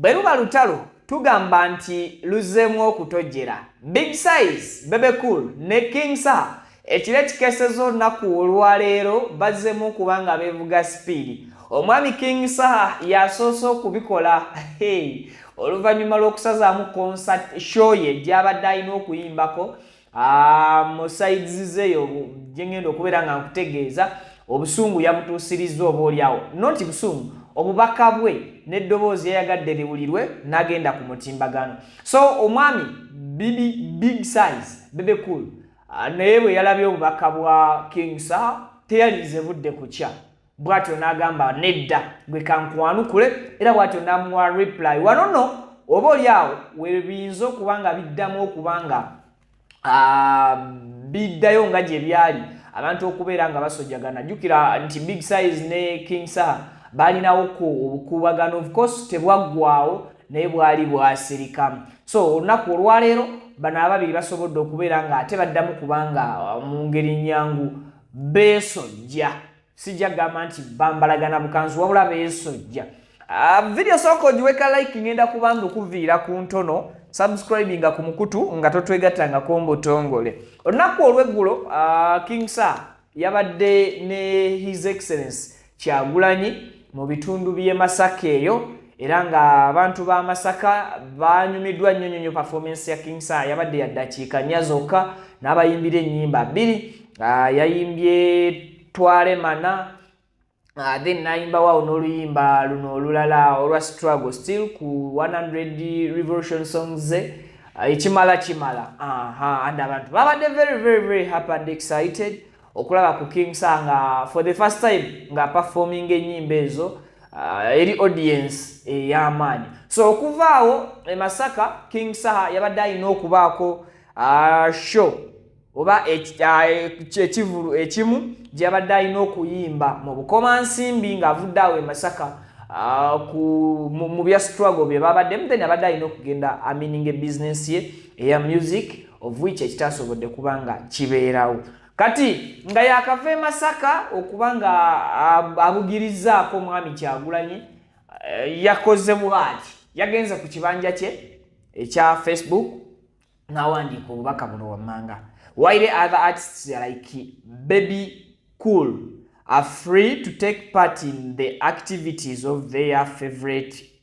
bwe luba lutalo tugamba nti luzzeemu okutojjera big size bebe cool ne king sa ekiro ekikeseza olunaku olwaleero bazzeemu okuba nga beevuga sipiidi omwami king saha yasoose okubikola hey. oluvannyuma lw'okusazaamu concert show ye gy'abadde alina okuyimbako Ah, mu sides zeyo gyengenda okubeera nga nkutegeeza obusungu yabutuusirizza oba olyawo noti busungu obubaka bwe n'eddoboozi yayagadde liwulirwe n'agenda ku mutimbagano so omwami bibi big size bebe cool ah, naye bwe yalabye obubaka bwa king sa teyalinze budde kukya bwatyo n'agamba nedda gwe kankwanukule era bwatyo n'amuwa reply wano nno oba oli awo webiyinza okuba nga biddamu okuba nga ah, biddayo nga gye byali abantu okubeera nga basojjagana jjukira nti big size ne king saha baalinawo ku obukuubagano of course tebwaggwawo naye bwali bwasirika so olunaku olwaleero bano ababiri basobodde okubeera nga ate baddamu kubanga uh, mu ngeri nyangu beesojja sijja kugamba nti bambalagana bukanzu wabula beesojja ah, vidiyo sooka ogiweka like ngenda kubanga okuviira ku ntono subscribinga ku mukutu nga totwegattangako mbutongole olunaku olweggulo ah, king sir yabadde ne his excellence Kyagulanyi mu bitundu by'e Masaka eyo era ng'abantu ba Masaka baanyumiddwa nnyo nnyo performance ya King Saha yabadde ya ddakiika nnya zokka n'abayimbira ennyimba bbiri ah, yayimbye twale mana Uh, then nayimba wawo n'oluyimba luno olulala olwa struggle still ku 100 revolution songs ze uh, ekimala kimala aha and abantu babadde very very very happy and excited okulaba ku king sa nga for the first time nga performing enyimba ezo uh, eri audience eyamaanyi eh, so okuvaawo emasaka king saha yabadde alina okubaako uh, show oba uh, ekivulu ekimu gyeyabadde alina okuyimba mu bukoma nsimbi ngaavudde awo emasaka uh, mu bya struggle bye babaddemu then abadde alina okugenda amininga ebizinensi ye eya music of which ekitasobodde kuba nga kibeerawo kati nga yakava e masaka okuba nga abugirizaako omwami kyagulanyi eh, yakoze bwati yagenze ku kibanja kye ekya facebook nawandiika obubaka buno wammanga while other artists like baby cool are free to take part in the activities of their favorite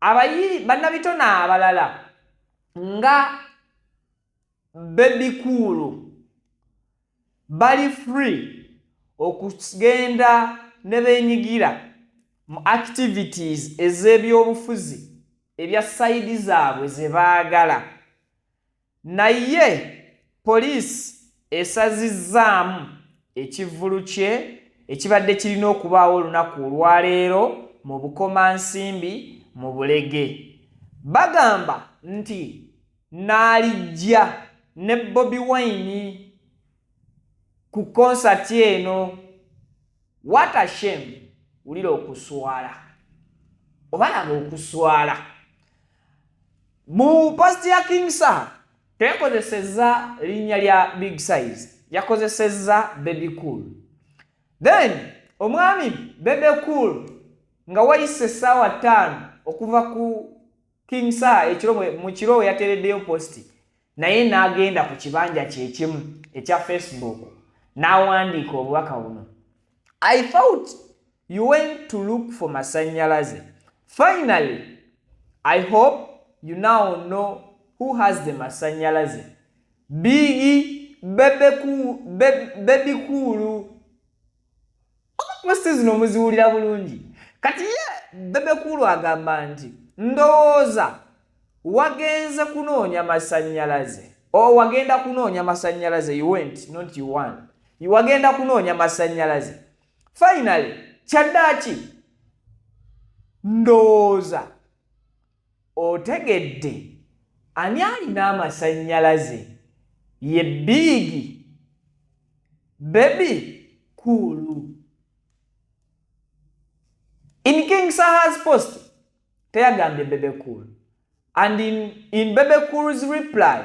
Abayi bannabitone abalala nga bebikuulu bali free okugenda ne benyigira mu activities ez'ebyobufuzi ebya sayidi zaabwe ze baagala Naye poliisi esazizzaamu ekivvulu kye ekibadde kirina okubaawo olunaku olwaleero mu Bukomansimbi mu Bulege. Bagamba nti Naalijja ne Bobi Wine ku konsati eno. What a shame! Wulira okuswala. Obalaba okuswala. mu past ya king saha teyakozesezza linnya lya big size yakozesezza baby cool then omwami baby cool nga wayise essaawa ttaano okuva ku king saha ekiro mu kiro we yateereddeyo posti naye n'agenda ku kibanja kyekimu ekya facebook n'awandiika obubaka buno i thought you went to look for masanyalaze finally i hope you now know who has the masanyalaze bigi bebekuulu Posti zino muziwulira bulungi. Kati ye Bebe Cool agamba nti ndowooza wagenze kunoonya masannyalaze o oh, wagenda kunoonya masannyalaze you went not you won wagenda kunoonya masannyalaze finally kyaddaaki ndowooza Otegedde ani alina amasanyalaze ye big baby cool in king sahas post teyagambye bebe cool and in, in bebe cool's reply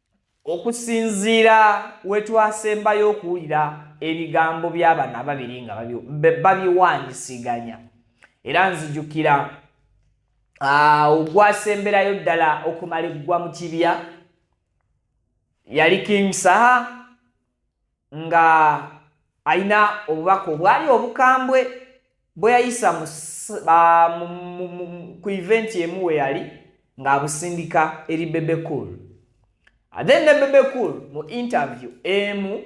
okusinziira wetwasembayo okuwulira ebigambo by'abano ababiri nga babiwanyisiganya era nzijukira ogwasemberayo ddala okumala eggwa mu kibya yali king saha nga alina obubaka obwali obukambwe bwe yayisa ku eventi emu we yali ng'abusindika eri bebe cool then ne bebe cool mu interview emu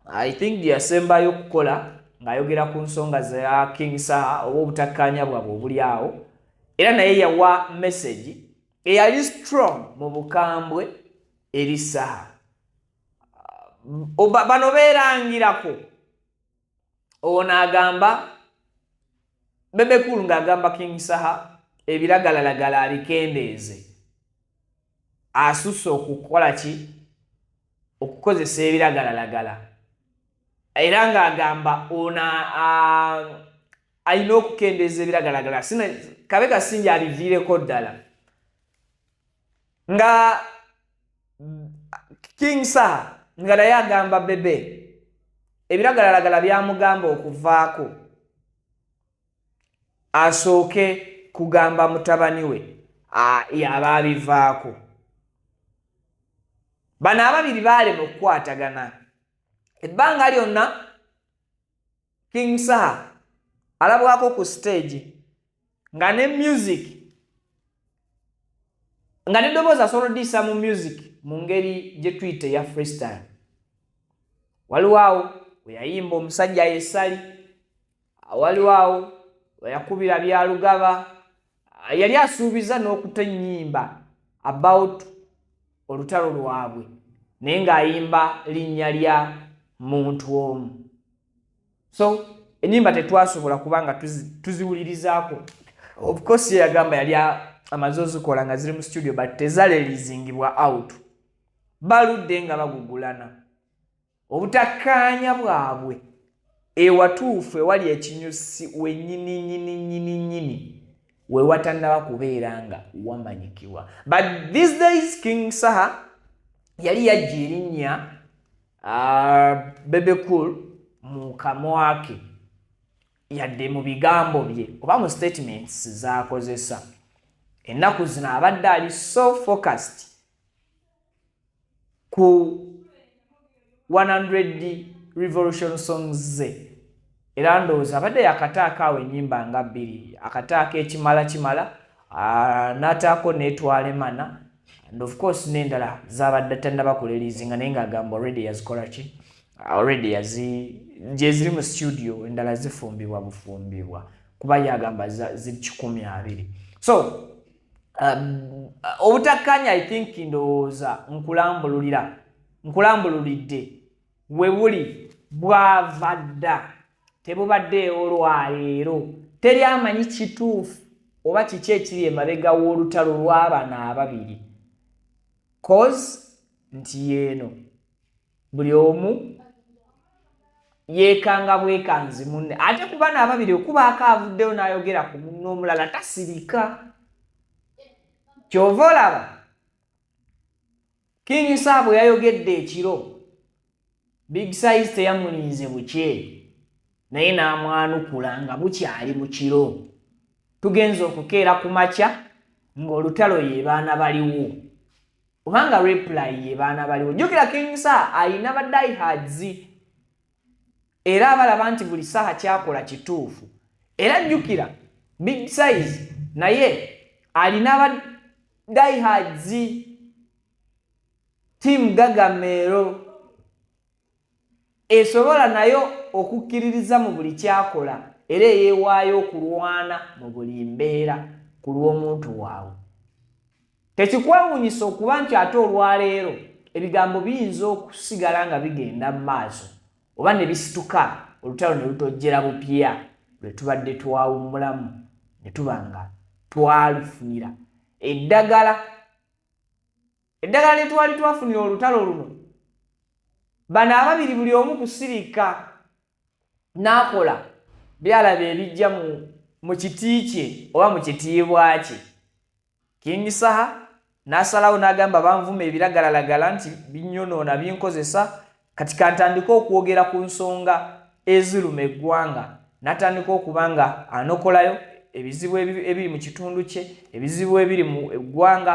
i think gyeyasembayo okukola ng'ayogera ku nsonga za king saha oba obutakkaanya bwabwe obuli awo era naye yawa message eyali strong mu bukambwe eri saha bano beerangirako owo naagamba bebekulu ng'agamba king saha ebiragalalagala abikendeeze asusse okukola ki okukozesa ebiragalalagala era ng'agamba ono alina okukendeeza ebiragalagala kabe kasinja abiviireko ddala nga king saha nga naye agamba bebe ebiragalalagala byamugamba okuvaako asooke kugamba mutabani we yaba abivaako bano ababiri baalema okukwatagana ebbanga lyonna king saha alabwako ku siteegi nga ne music nga ne ddoboozi asobola oddiisa mu music mu ngeri gye tuyita eya freestyle waliwo awo weyayimba omusajja yesali waliwo awo weyakubira byalugaba yali asuubiza n'okuta ennyimba about olutalo lwabwe naye ng'ayimba linnya lya muntu omu so enyimba tetwasobola kuba nga tuziwulirizaako ofcourse yeyagamba yali amaze ozikola nga ziri mu studio but tezalelizingibwa out baludde nga bagugulana obutakkaanya bwabwe ewatuufu ewali ekinyusi wenyini nyini nyini nyini wewatannaba kubeera nga wamanyikibwa but these days king saha yali yajja erinnya Uh, bebe cool mu kamwake yadde mu bigambo bye oba mu statements zakozesa ennaku zino abadde ali so focused ku 100 revolution songs ze Era ndowooza abadde yakataako awo ennyimba nga bbiri, akataako ekimala kimala n'ataako n'etwala emana and of course n'endala zaabadde tannaba kuleliizinga naye ng'agamba already yazikola ki already yazi gyeziri mu studio endala zifumbibwa bufumbibwa kuba yagamba ziri kikumi abiri so um, obutakkaanya i think ndowooza nkulambululira nkulambululidde we buli bwava dda tebubaddeewo lwaleero teri amanyi kituufu oba kiki ekiri emabega w'olutalo lw'abana ababiri cos nti yeeno buli omu yeekanga bwekanzi munne ate ku bana ababiri okubaako avuddeyo n'ayogera ku munne omulala tasirika kyova olaba King Saha bwe yayogedde ekiro, Big Size teyamulinze bukye naye n'amwanukula nga bukyali mu kiro. Tugenze okukeera ku makya ng'olutalo ye baana baliwo oba nga reply ye baana baliwo. Jjukira King Saha alina ba diehards era abalaba nti buli saha kyakola kituufu era jjukira big size naye alina aba diehards tiamu gagameero esobola nayo okukkiririza mu buli kyakola era eyeewaayo okulwana mu buli mbeera ku lw'omuntu waabwe Tekikwewuunyisa okuba nti ate olwaleero ebigambo biyinza okusigala nga bigenda mu maaso oba ne bisituka olutalo ne lutojjera bupya lwe tubadde twawummulamu ne tuba nga twalufunira eddagala. Eddagala lye twali twafunira olutalo luno, bano ababiri buli omu kusirika n'akola byalaba ebijja mu kiti kye oba mu kitiibwa kye. King Saha n'asalawo n'agamba banvuma ebiragalalagala nti binyonoona binkozesa kati kantandike okwogera ku nsonga eziruma eggwanga n'atandika okuba nga anokolayo ebizibu ebiri mu kitundu kye ebizibu ebiri mu eggwanga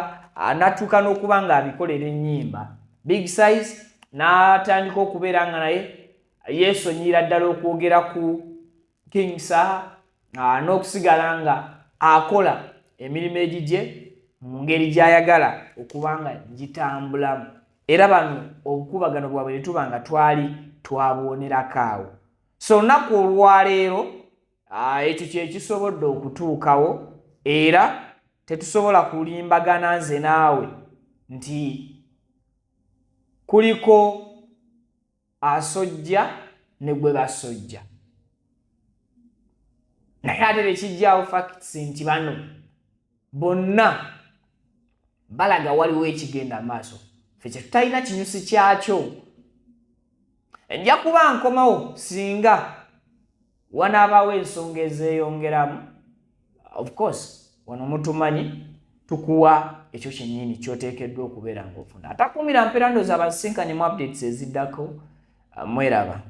n'atuuka n'okuba ng'abikolera ennyimba big size n'atandika okubeera nga naye yeesonyiyira ddala okwogera ku king saha ah, n'okusigala nga akola emirimu egigye mu ngeri gy'ayagala okuba nga gitambulamu era bano obukubagano bwabwe ne tuba nga twali twabuwonerako awo so olunaku olwaleero ah, ekyo kyekisobodde okutuukawo era tetusobola kulimbagana nze naawe nti kuliko asojja ne gwe basojja naye ate tekijjawo facts nti bano bonna balaga waliwo ekigenda amaaso fe kyetutalina kinyusi kyakyo ejja kuba nkomawo singa wanaabawo ensonga ezeeyongeramu of course wano mutumanyi tukuwa ekyo kyennyini kyoteekeddwa okubeera ngaofuna atakuumira mpeera ndoozi abasisinkanye mu updates eziddako uh, mweraba